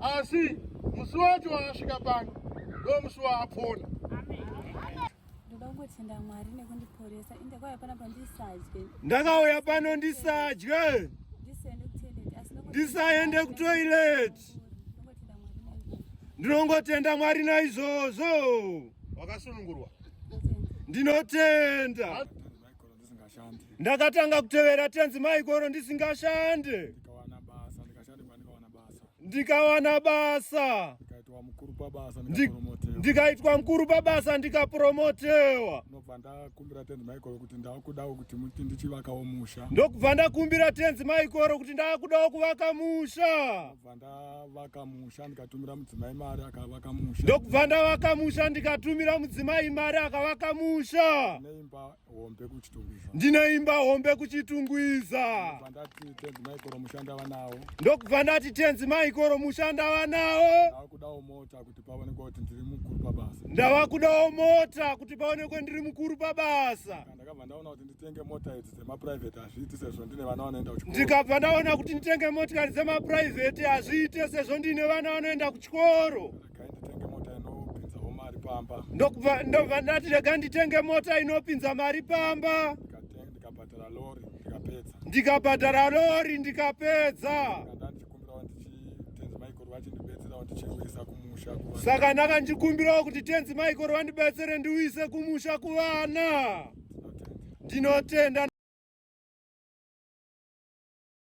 asi musi wacho waasvika pano ndo musi waapona ndoda kungotenda mwari nekundiporesa inde kwaya pana pandisadye ndakauya pano ndisadye ndisaende kutoileti ndinongotenda mwari naizvozvo wakasunungurwa ndinotenda ndakatanga kutevera tenzi maikoro ndisingashande ndikawana basa ndikaitwa mukuru pabasa ndikapromotewa ndokubva ndakumbira tenzi maikoro kuti ndakudawo kuti ndichivakawo musha ndokubva ndakumbira tenzi maikoro kuti ndakudawo kuvaka musha ndakavaka musha ndikatumira mudzimai mari akavaka musha ndokubva ndavaka musha ndikatumira mudzimai mari akavaka musha neimba hombe kuchitungwiza ndine imba hombe kuchitungwiza ndati tenzi maikoro musha ndava nawo ndokubva ndati tenzi maikoro musha ndava nawo ndava kudawo mota kuti paonekwe kuti ndiri mukuru pabasa ndava kudawo mota kuti paonekwe ndiri mukuru pabasa ndakabva ndaona kuti nditenge mota idzi dzemaprivate hazviiti sezvo ndine vana vanoenda kuchikoro ndikabva ndaona kuti nditenge motikari dzemaprivate hazviite sezvo ndine vana vanoenda kuchikoro regai nditenge mota inopinzawo mari pamba ndokubva ndobva ndati rega nditenge mota inopinza mari pamba Ndikate- ndikabhadhara lori ndikapedza ndikabhadhara lori ndikapedza Ndikanda- saka ndakandikumbirawo kuti tenzi michael wandibetsere ndiuyise kumusha kuvana ndinotenda